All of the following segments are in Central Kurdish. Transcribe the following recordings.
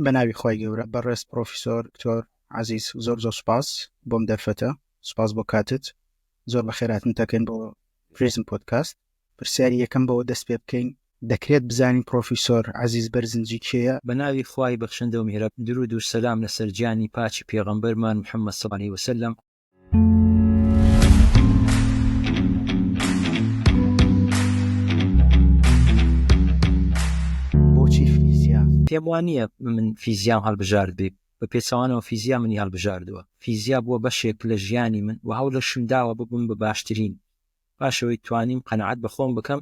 بەناوی خی گەورە بەڕێز پرۆفیسۆر کتۆر عزیز زۆر زۆر سپاس بۆم دەرفەتە سپاس بۆ کاتت زۆر بە خێراتن تەکەن بۆ پرزم پۆتکاست پرسیاری یەکەم بەوە دەست پێ بکەین دەکرێت بزانین پرۆفیسۆر عزیز بەرزنجی کێیە بە ناوی خوای بەخشندە و میهرەب درود و سەلام لەسەر گیانی پاکی پێغەمبەرمان محمد صلی اللە علیه وسلم پێم وا نییە من فیزیام هەڵبژارد بێ بە پێچوانەوە فیزیا منی هەڵبژاردووە فیزیا بووە بەشێک لە ژیانی من و هەوڵەشم داوە ببم بە باشترین باشەوەی توانیم قەنەعات بەخۆم بکەم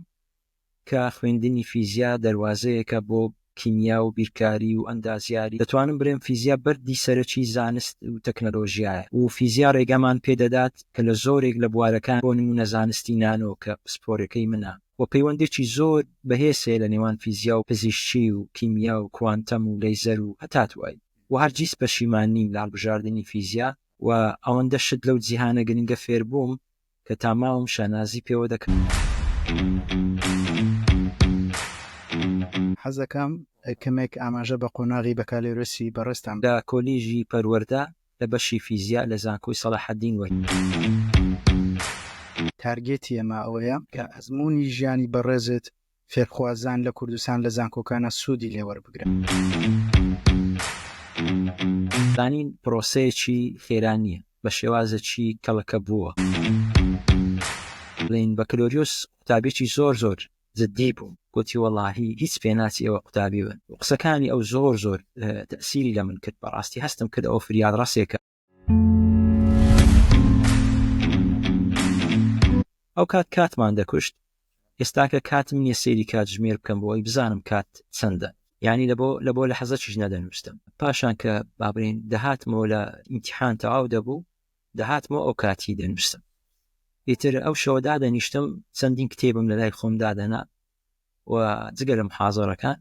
کە خوێندنی فیزیا دەروازەیەکە بۆ کیمیا و بیرکاری و ئەندازیاری، دەتوانم بڵێم فیزیا بەردی سەرەکی زانست و تەکنەلۆژیایە و فیزیا ڕێگامان پێ دەدات کە لە زۆرێک لە بوارەکان بۆ نموونە زانستی نانۆ کە پسپۆرەکەی منە و پەیوەندێکی زۆر بەهێز هەیە لە نێوان فیزیا و پزیشکی و کیمیا و کوانتەم و لەیزەر و هەتا دوایی و هەرگیز پەشیمان نیم لە هەڵبژاردنی فیزیا و ئەوەندە شت لەو جیهانە گرنگە فێربووم کە تا ماوم شانازی پێوە دەکەم. حەزەکەم کەمێک ئاماژە بە قۆناغی بەکالۆرێسی بەڕێزتان. لە کۆلیژی پەروەردە لە بەشی فیزیا لە زانکۆی سەڵاحەدین وەرگرت. تارگێتی ئێمە ئەوەیە کە ئەزموونی ژیانی بەڕێزت فێرخوازان لە کوردستان لە زانکۆکانا سوودی لێ وەربگرن. زانین پرۆسەیەکی خێرا نییە، بە شێوازێکی کەڵەکەبووەوە بڵێین بەکلۆریۆس قوتابیەکی زۆر زۆر جدی بووم، گۆتی وەڵاهی هیچ پێ ناچی ئێوە قوتابی بن و قسەکانی ئەو زۆر زۆر تەئسیری لە من کرد، بەڕاستی هەستم کرد ئەوە فریادڕەسێکە. ئەو کات کاتمان دەکوشت ئێستاکە کاتم نییە سێری کات ژمێر بکەم بۆی بزانم کات چەندە یعنی لە بۆ لە بۆ لە حەزەکیش نەدەنووسم پاشان کە بابرین دەهاتمەوە لە ئیمتحان تەواو دەبوو دەهاتمەوە ئەو کاتی دەنووسم ئیتر ئەو شەوە دادەنیشتم چەندین کتێبم لە لای خۆم دادەنا و جگە لە محازەرەکان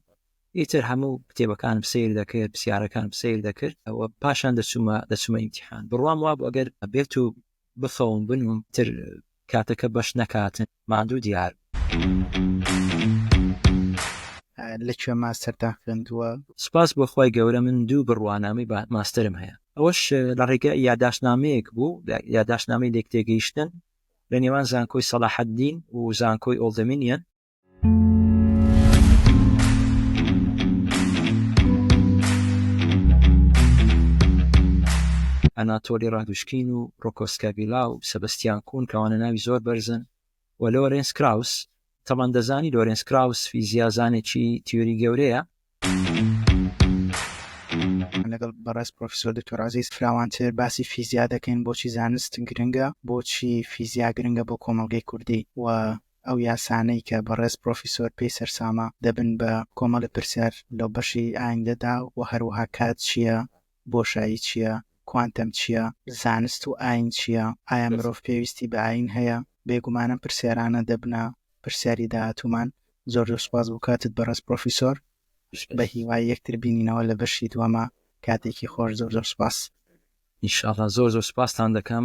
ئیتر هەموو کتێبەکانم سیر دەکرد پرسیارەکانم سیر دەکرد ئەوە پاشان دەچوومە دەچوومە ئیمتیحان بڕوام وابوو ئەگەر بێت و بخەوم بنووم تر کاتەکە بەش نەکاتن ماندوو دیار لە کوێ ماستەرتان خوێندووە؟ سوپاس بۆ خوای گەورە من دوو بڕوانامەی ماستەرم هەیە ئەوەش لە ڕێگە یاداشتنامەیەک بوو یاداشتنامەی لێکتێگەیشتن لە نێوان زانکۆی سەلاحەدین و زانکۆی ئۆڵدەمینیەن. ئەناتۆلی ڕادوشکین و ڕۆکۆ سکاڤیلا و سەبستیان کون کەوانە ناوی زۆر بەرزن و لۆرێنس کراوس، تەڵەندەزانی لۆرێنس کراوس فیزیازانێکی تیۆری گەورەیە لەگەڵ بەڕێز پرۆفیسۆر دکتۆر عزیز فراوانتر باسی فیزیا دەکەین بۆچی زانست گرنگە بۆچی فیزیا گرنگە بۆ کۆمەڵگەی کوردی و ئەو یاسانەی کە بەڕێز پرۆفیسۆر پێی سەرسامە دەبن بە کۆمەڵی پرسیار لەو بەشی ئایندەدا و هەروەها کات چییە بۆشایی چییە؟ کوانتەم چییە؟ زانست و ئایین چییە؟ ئایا مرۆڤ پێویستی بە ئایین هەیە؟ بێگومانم پرسیارانە دەبنە پرسیاری داهاتوومان. زۆر زۆر سوپاس بۆ کاتت بەڕێز پڕۆفیسۆر. بە هیوای یەکتر بینینەوە لە بەشی دووەما. کاتێکی خۆش زۆر زۆر سوپاس. ان شاء اللە زۆر زۆر سوپاستان دەکەم.